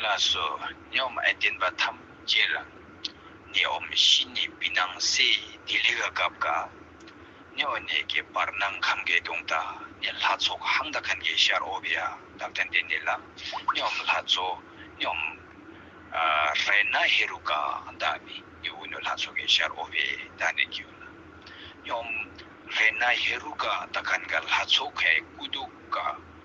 ལ་སོགས་སྙོམས་བརྟེན་པ་ཐམས་ཅད་ལ་ནི་འོམ་བཞི་ནི་བི་སྣང་གསལ་ཡི་ལྡི་ལི་ག་སྐབས་ཀ་ནི་འོ་ནས་ཀྱི་བར་སྣང་གམ་གའི་གདུང་ད་ནི་ལྷ་ཚོགས་ཧང་ད་གན་གའི་ཤར་ཨོ་བི་ཡ་དབ་ད་འདི་ནི་ལ་སྙོམས་ལྷ་ཚོགས་སྙོམས། རེ་ན་ཧེ་རུ་ཀ་ད་ནི་ནི་འུ་ནུ་ལྷ་ཚོགས་ཀའི་ཤར་ཨོ་བི་ད་ནི་ཀྱི་ལ་སྙོམས། རེ་ན་ཧེ་རུ་ཀ་ད་གན་ག་ལྷ་ཚོགས་ཀའི་སྐུ་གདུགས་ཀ་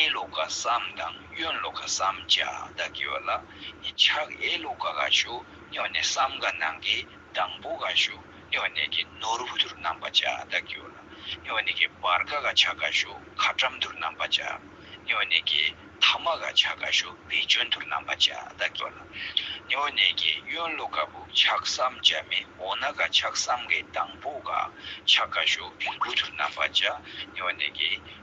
ཨེ་ལོ་ཀ་སམ་དང་གཡོན་ལོ་ཀ་སམ་ཅག་བདག་གི་བ་ལ་ནི་ཕྱག་གཡས་ལོ་ཀ་ག་ཤོ་སྨྱོ་ནས་སམ་ག་ནང་གི་དང་པོ་ག་ཤོ་སྨྱོ་ནས་ཀྱི་ནོར་བུ་དུར་རྣམ་པ་ཅག་བདག་གི་བ་ལ་སྨྱོ་ནས་ཀྱི་བར་ག་ག་ཕྱག་ག་ཤོ་ཁ་བཀྲམ་དུར་རྣམ་པ་ཅག་སྨྱོ་ནས་ཀྱི་ཐ་མ་ག་ཕྱག་ག་ཤོ་བེ་ཅོན་དུར་རྣམ་པ་ཅག་བདག་གི་བ་ལ་སྨྱོ་ནས་ཀྱི་གཡོན་ལོ་ཀ་བུ་ཕྱག་སམ་ཅག་མི་འོ་ན་ག་ཕྱག་སམ་གའི་དང་པོ་ག་ཕྱག་ག་ཤོ་བེང་བུ་དུར་རྣམ་པ་ཅག་སྨྱོ་ནས་ཀྱི།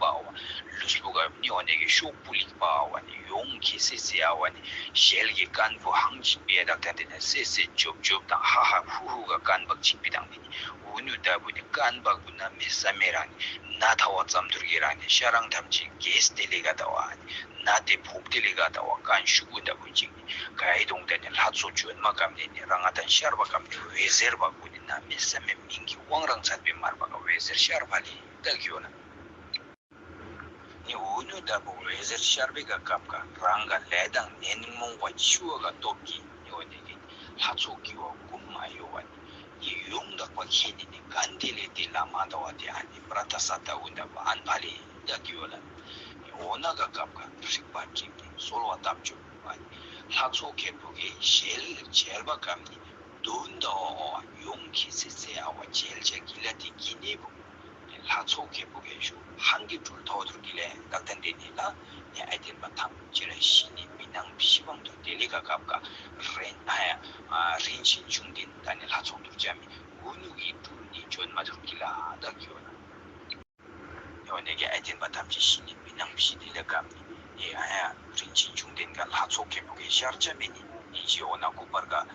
པའོ། ལུས་སྤུ་གར་མི་འོ་ནད་ཀྱི་ཤོག་སྤུ་ལེགས་པའོ་ནི་ཡོངས་ཀྱིས་སེ་སེ་ཨའོ་ནི་ཞལ་གྱི་རྐན་བུ་ཧང་ཅིག་པའི་རགས་ཐ་དེ་ནི་སེ་སེ་ལྗོབ་ལྗོབ་དང་ཧ་ཧ་ཧུ་ཧུ་ག་རྐན་བག་ཅིག་པའི་དང་དེ་ནི་འུ་ནུ་ལྟ་བུ་ནི་རྐན་བག་བུ་ན་མེ་བཟའ་མའི་རང་ནི་ན་ཐ་བ་ཙམ་དུར་གྱི་རང་ནི་ཤ་རང་ཐམས་ཅད་གས་སྟེ་ལེ་ག་ལྟ་བ་ཨ་ནི་ན་ཏེ་བོབ་སྟེ་ལེ་ག་ལྟ་བ་རྐན་ཤུག་བུ་ལྟ་བུ་ཅིག་ནི་གའི་དོང་དེ་ནི་ལྷ་མཚོ་ཇོལ་མ་གམ་ནས་ནི་ར་ང་དང་ཤར་བ་གམ་ནས་འོད་ཟེར་བག་བུ་ནི་ན་མེ་བཟའ་མའི་མིང་གི་དབང་རང་ཚར་པའི་མར་བ་ག་འོད་ཟེར་ཤར་བ་ལས་བཏགས་ཡོད་ལ། ནི་འོད་ལུས་ལྟ་བུ་འོད་ཟེར་ཤར་བས་ཀ་ཁབ་ཀ་རང་ག་ལས་དང་ནན་རྨོངས་པ་འཆི་བ་ཀ་སྟོབས་ཀྱིས་ནི་བ་ནི་ནི་ལྷ་ཚོགས་ཀྱི་བ་ཀུན་མ་གཡོ་བ་ནི་ནི་ཡོངས་དག་པ་ཁྱེད་ནི་ནི་ག་འདི་ལས་འདི་ལ་མ་འདའ་བ་དེ་ཨ་ནི་པྲ་ཏཱ་ས་ཏྭ་བུ་འདའ་བ་ཨན་བྷ་ལེ་བདག་གི་བ་ལ་ནི་འོ་ན་ཀ་ཁབ་ཀ་རིག་པ་འབྲིང་ནི་གསོལ་བ་བཏབ་བྱུང་བ་ནི་ལྷ་ཚོགས་ཀྱི་བུ་གའི་ཞལ་མཇལ་བ་ཀ་ནི་ནི་འདུ་འདའ་བ་བ་ཡོངས་ཀྱི་སྲིད་རྩེའི་ཨ་བ་མཇལ་བྱ་ཀི་ལ་ཏི་ཀི་ནི་བུ། ནས་ལྷ་ཚོགས་བརྒྱད་པོ་གས་ཞུ་ཧང་གི་གྲུར་ཐོ་ཐོར་གི་ལས་འགའ་བསྟན་ཏེ་ནི་ལ་ནས་ཨེ་དེར་མ་ཐམས་ཅད་ལ་ཤི་ནས་མི་སྣང་བཞི་བང་དུ་དེ་ལས་ག་གབ་ག་རེན་ཨ་ཡ། རིན་ཆེན་འབྱུང་ལྡན་ད་ནི་ལྷ་ཚོགས་འདུར་བྱ་མི་འུ་ནུ་གི་གྲུར་ནི་འབྱོན་མ་ཐུབ་གི་ལ་བདག་གི་འོ་ན་འོ་ནས་ཀྱི་ཨེ་དེར་མ་ཐམས་ཅད་ཤི་ནས་མི་སྣང་བཞི་དེ་ལས་གབ་ནི་ཨེ་ཨ་ཡ། རིན་ཆེན་འབྱུང་ལྡན་ག་ལྷ་ཚོགས་བརྒྱད་པོ་གས་ཤར་བྱ་མི་ནི་ནི་ཅི་འོ་ན་ལྐུགས་པར་ག།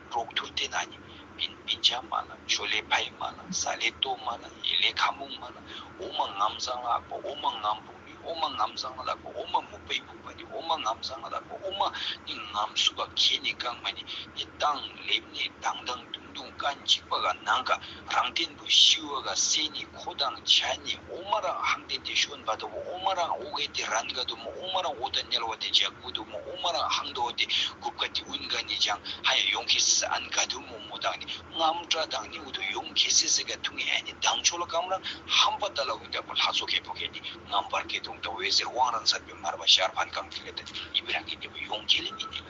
གྲོགས་ཐུར་དེ་ན་ནི། པིན་པིན་ཆ་མ་ལ་ཆོ་ལེ་ཕ་ཡི་མ་ལ་ཟ་ལེ་ཏོ་མ་ལ་ཡེ་ལེ་ཁ་མུག་མ་ལ་འོ་མ་ངམ་བཟང་ལ་ཨག་པ་འོ་མ་ངམ་བུག་ནི་འོ་མ་ངམ་བཟང་ལ་ཨག་པ་འོ་མ་མུག་པའི་བུག་པ་ནི་འོ་མ་ངམ་བཟང་ལ་ཨག་པ་འོ་མ་ནི་ངམ་སུ་བ་གས་ནི་ཀང་མ་ནི་ནི་དང་ལེབ་ནི་དང་དང་དུང་དུང་ཀ་འཇིགས་པ་ག་ནང་ཀ་རང་སྟེ། ཀུ་ཤི་ཝ་ག་སེ་ནི་ཁོ་དང་བྱ་ནི་ཨོ་མ་རང་ཧང་དེ་དེ་ཤོན་བ་དོ་བོ་ཨོ་མ་རང་ཨོ་གེ་དེ་རན་ག་དོ་མོ་ཨོ་མ་རང་ཨོ་ད་ནལ་བ་དེ་འཇ་གུ་དོ་མོ་ཨོ་མ་རང་ཧང་དོ་དེ་གུབ་ག་དེ་ཨུན་ག་ནི་ཇང་ཧ་ཡ་ཡོང་ཁེ་སི་སི་ཨན་ག་དོ་མོ་མོ་དང་ནི་རྔམ་ཏྲ་དང་ནི་ཨུ་དོ་ཡོང་ཁེ་སི་སི་ག་ཐུང་ཧན་ནི་དང་ཆོ་ལ་ཀམ་རང་ཧམ་བ་ད་ལ་ཨུན་ད་པོ་ལྷ་ཚོ་ཁེ་པོ་ཁེ་ནི་རྔམ་བར་གེ་དོང་ད་བོའི་ཟེར་བང་རང་ཟར་བོའི་མར་བ་ཤར་བྷན་གང་ཐི་ལ་ད་ནི་ཨི་བི་རང་གེ་ནི་བོ་ཡོང་ཁེ་ལི་མི་ནི་ལ།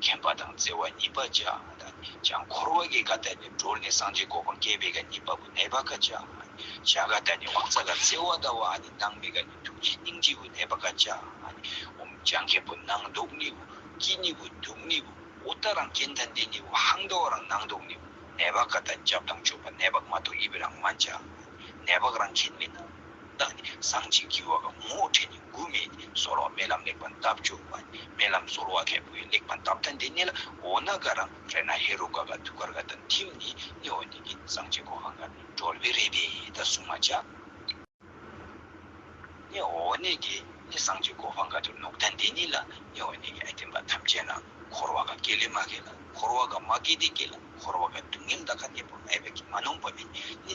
མཁྱེན་པ་དང་བརྩེ་བ་གཉིས་པ་བཅའ་འདི་ཀྱང་འཁོར་བ་གི་ག་ད་ནས་གྲོལ་ནས་སངས་རྒྱས་འགོག་པར་སྐལ་པའི་ག་གཉིས་པ་པོ་ནད་པ་ག་བཅའ། བྱ་ག་ད་ནི་དབང་རྩ་ག་བརྩེ་བ་ཟླ་བ་ཨ་ནི་སྣང་མེད་ག་ནི་ཐུགས་རྗེ་སྙིང་རྗེ་བོ་ནད་པ་ག་བཅའ། འོམ་བྱང་མཁན་པོ་སྣང་ཟློག་ནི་བོ་སྐྱིད་ནི་བོ་སྡུག་ནི་བོ་ཨུ་ཏྟ་རང་སྐྱེ་མཐའ་འདས་ནི་བོ་ཧང་ཟློག་རང་སྣང་ཟློག་ནི་བོ་ནད་པ་ག་ད་སྐྱབས་དང་མཆོད་པ་ནད་པ་མ་ཐོག་ཡིད་པའི་རང་མ་བཅའ། ནད་པ་རང་མཁྱེན་མེད་ན། བདག་ནི་གསང་ཆེན་གྱི་འོག་ངོ་བོ་ཕྲད་ནས་དགུ་མེད་ནས་གསོལ་བ་མེད་ལམ་ལེགས་པར་བཏབ་བཅུ་བ་ནས་མེད་ལམ་གསོལ་བ་ཁད་པོའི་ལེགས་པར་བཏབ་ཐ་འདི་གནས་ལ་འོ་ན་ག་རང་རེ་ན་ཧེ་རུ་ཀ་ཀ་ཐུགས་ཀར་ཀ་དང་ཐིམ་ནས་གནས་འོ་ནི་གིན་གསང་ཆེན་གོ་ཁང་ཀར་གྲོལ་བའི་རེ་བས་ད་གསུང་མ་བྱ། གནས་འོ་ནི་གིན་ནས་གསང་ཆེན་གོ་ཁང་ཀ་དུ་ནུབ་ཐ་འདི་གནས་ལ་གནས་འོ་ནི་གིན་ཨེ་བསྟན་པ་ཐམས་ཅད་ན་འཁོར་བ་ཀ་སྐྱེ་ལས་མ་སྐྱེས་ལ་འཁོར་བ་ཀ་མ་སྐྱེས་ཏེ་སྐྱེས་ལ་འཁོར་བ་ཀ་སྡུག་བསྔལ་འདའ་ཁ་གནས་པ་ཨེ་བས་ཀྱི་མ་ནོངས་པ་མེད་ནི།